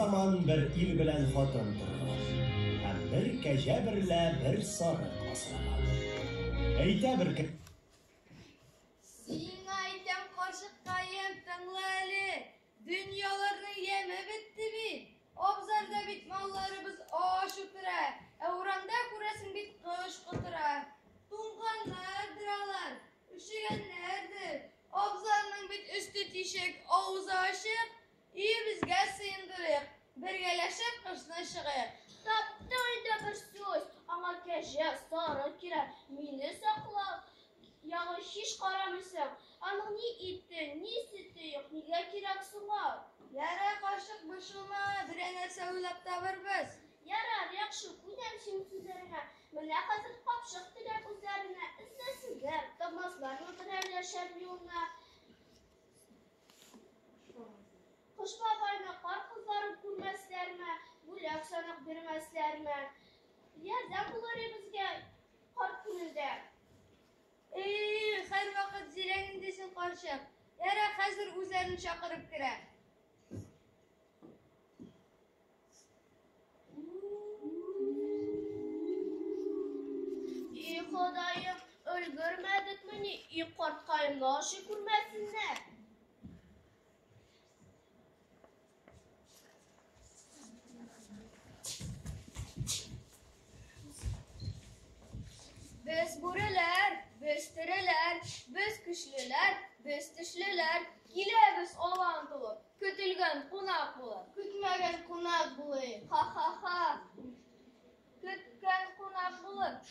заман бер ил белән хатын торган һәм бер кәҗә берлә бер сарык асраган әйтә бер сиңа әйтәм карчыккаем тыңла әле Дөньяларның яме бетте бит. Абзарда бит малларыбыз ач утыра, ә урамда күрәсең бит кыш котыра. Туңганнардыр алар, өшегәннәрдер. Абзарның бит өсте тишек, авызы ачык. Өебезгә сыендырыйк, бергәләшеп кышны чыгыйк. Тапты инде бер сүз, аңа кәҗә сары кирәк, мине саклап. Ягы һич карамый соң. Аның ни ите, ни сөте юк, нигә кирәк соң ул? Ярар, карчык, борчылма, берәр нәрсә уйлап табырбыз. Ярар, яхшы, күнәм синең сүзләреңә. Менә хәзер капчык теләп үзләренә эзләсеннәр, тапмаслармы берәр яшәр юлны. Кыш бабайны кар кызлары күрмәсләрме, бүләк-санак бирмәсләрме? Ярдәм булыр ибезгә. Карт күңелдә. Эх, һәрвакыт зирәк инде син карчык. Ярар, хәзер үзләрен чакырып керә. И Ходаем, өлгермәдекмени? И карткаемны ашый күрмәсеннәр. Без бүреләр, без тереләр, без көчлеләр, без тешлеләр, киләбез алан тулы, көтелгән кунак булып. Көтмәгән кунак булыйк. Ха-ха-ха. Көткән кунак булып,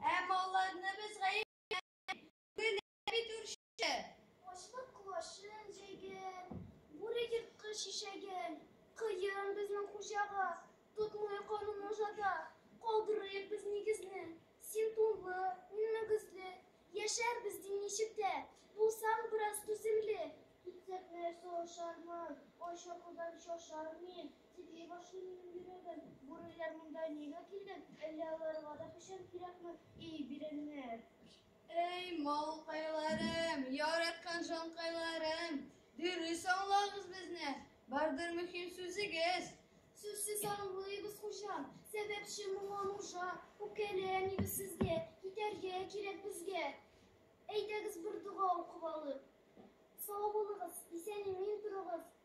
Ә малларны без гаепләмик, гөлләр бит үрче. Ачлык колачын җәйгән, бүре ерткыч ишәген. Кыен безнең хуҗага, тотмый канун нужада. Калдырыйк без нигезне, син тунлы, мин мөгезле. Яшәрбез ди ничек тә, булсаң бераз түземле. Китсәк нәрсә ашармын, ач йокыдан шашар мин. Тибии башлы минем йөрәгем. Бүреләр монда нигә килгән? Әллә аларга да печән кирәкме, и бирәннәр? Әй, малкайларым, яраткан җанкайларым, дөрес аңлагыз безне, бардыр мөһим сүзегез. Сүзсез аңлыйбыз, хуҗам, сәбәпче моңа нужа, үкәле әнибез сезгә, китәргә кирәк безгә. Әйдәгез бер дога укып алыйк. Сау булыгыз, исән-имин торыгыз.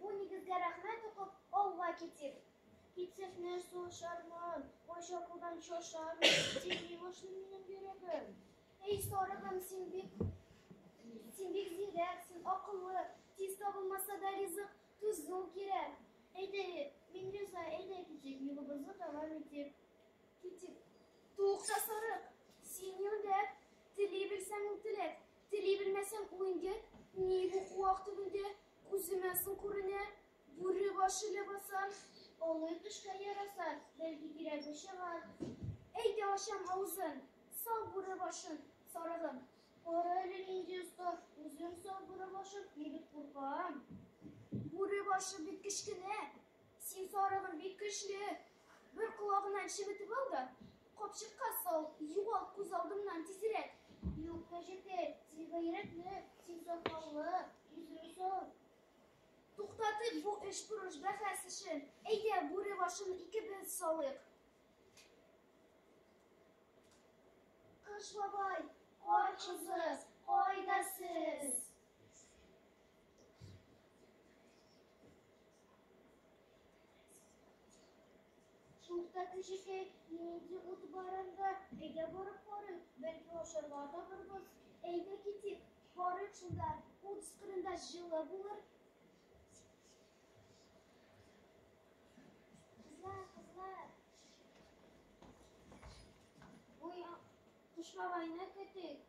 Бу нигезгә рәхмәт укып, алла китив. Китевне сулшармын, кайча кулдан чошармын, син милошны минем йөрәгем. Эй, сарыгым, син бик, син бик зирәк, син акыллы, тиз табылмаса да ризык, түзү кирәк. Әйдә, мин риза, әйдә китик, юлыбызны дәвам итик. Китик. Тукта сарык, син юлдәк, тели белсәң ул теләк, тели белмәсәң уйдер, ни бу куак төбендә, Күземә су күренә, бүре башы ләбаса, олы төшкә яраса, бәлки кирәге чыгар. Әйдә ачам авызын, сал бүре башын, сарыгым. Кара әле нинди оста, үзем сал бүре башын, мин бик куркам. Бүре башы бик кечкенә, син сарыгым бик көчле. Бер колагыннан чебетеп ал да, Капчыкка сал, югал күз алдымнан тизрәк. Юк, кәҗәкәй, син гайрәтле, син сакаллы, йөзең сау. Туктатыйк бу эш бурыч бәхәс эшен. Әйдә, бүре башын икебез салыйк. Кыш бабай, кар кызы, кайда сез? Шунда кешекәй нинди ут бар анда? Әйдә барып карыйк, бәлки ашарга табырбыз. Әйдә китик, карыйк шунда, ут сыкырында җылы булыр. Кызлар, кызлар. Ой, Кыш бабайны көтик.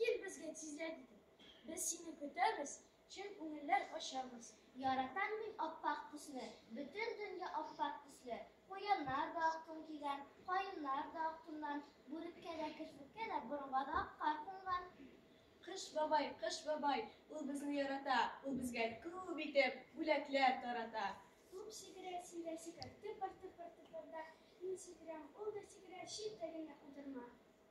Кил безгә тизләп итеп, без сине көтәбез, чын күңелләр ачабыз. Яратам мин аппак төсне, бөтен дөнья аппак төсле. Куяннар да ак тун кигән, каеннар да ак туннан, бүреккә дә, керфеккә дә, борынга да ак кар кунган. Кыш бабай, Кыш бабай, ул безне ярата, ул безгә күп итеп бүләкләр тарата. Туп сикерә, син дә сикер, тыпыр-тыпыр-тыпырда, мин сикерәм, ул да сикерә, читтә генә утырма.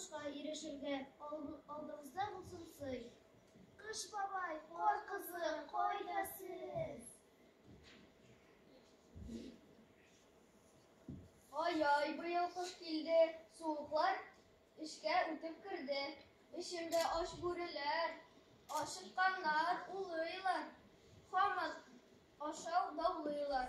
Кышка ирешергә алдыгызда булсын сый. Кыш бабай, кар кызы, кайда сез? Ай-ай, быел кыш килде, суыклар эшкә үтеп керде. Эшемдә ач бүреләр, ашыкканнар улыйлар, хамас ашау даулыйлар.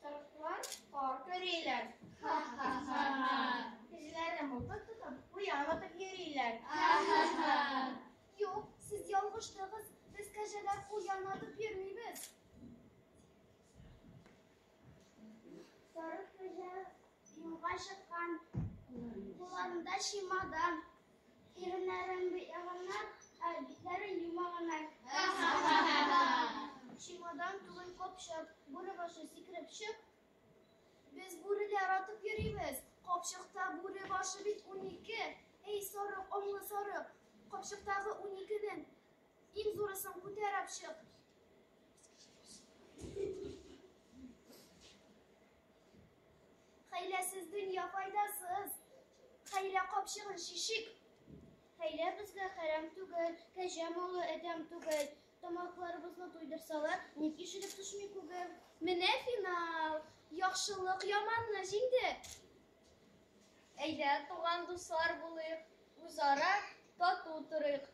Сарыклар кар көриләр. Ха-ха-ха-ха. Кешеләрне мылтык тотып, куян атып йөриләр. Ха-ха-ха. Юк, сез ялгыштыгыз. Без кәҗәләр куян атып йөрмибез. Сарык кәҗә юлга чыккан, кулларында чемодан. Иреннәрен яганнар, ә битләрен юмаганнар. Чемодан түгел капчык, бүре башы сикереп чык. Без бүреле яратып йөрибез. Капчыкта бүре башы бит унике. Эй, сарык, аңлы сарык, капчыктагы уникенең иң зурысын күтәреп чык. Хәйләсез дөнья файдасыз, хәйлә капчыгын шишик. Хәйлә безгә хәрәм түгел, кәҗә малы әдәм түгел. Тамакларыбызны туйдырсалар, ник ишелеп төшми күгел? Менә финал, яхшылык яманны җиңде. Әйдә, туган дуслар булыйк, үзара тату торыйк.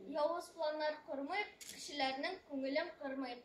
Явыз планнар кормыйк, кешеләрнең күңелен кырмыйк.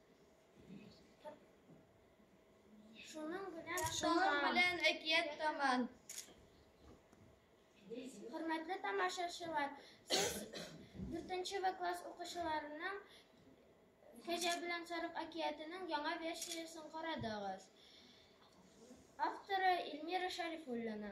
Шуның белән Шуның белән әкият таман. Хөрмәтле тамашачылар, сез 4 В класс укучыларының Кәҗә белән сарык әкиятенең яңа версиясен карадыгыз. Авторы Эльмира Шарифуллина.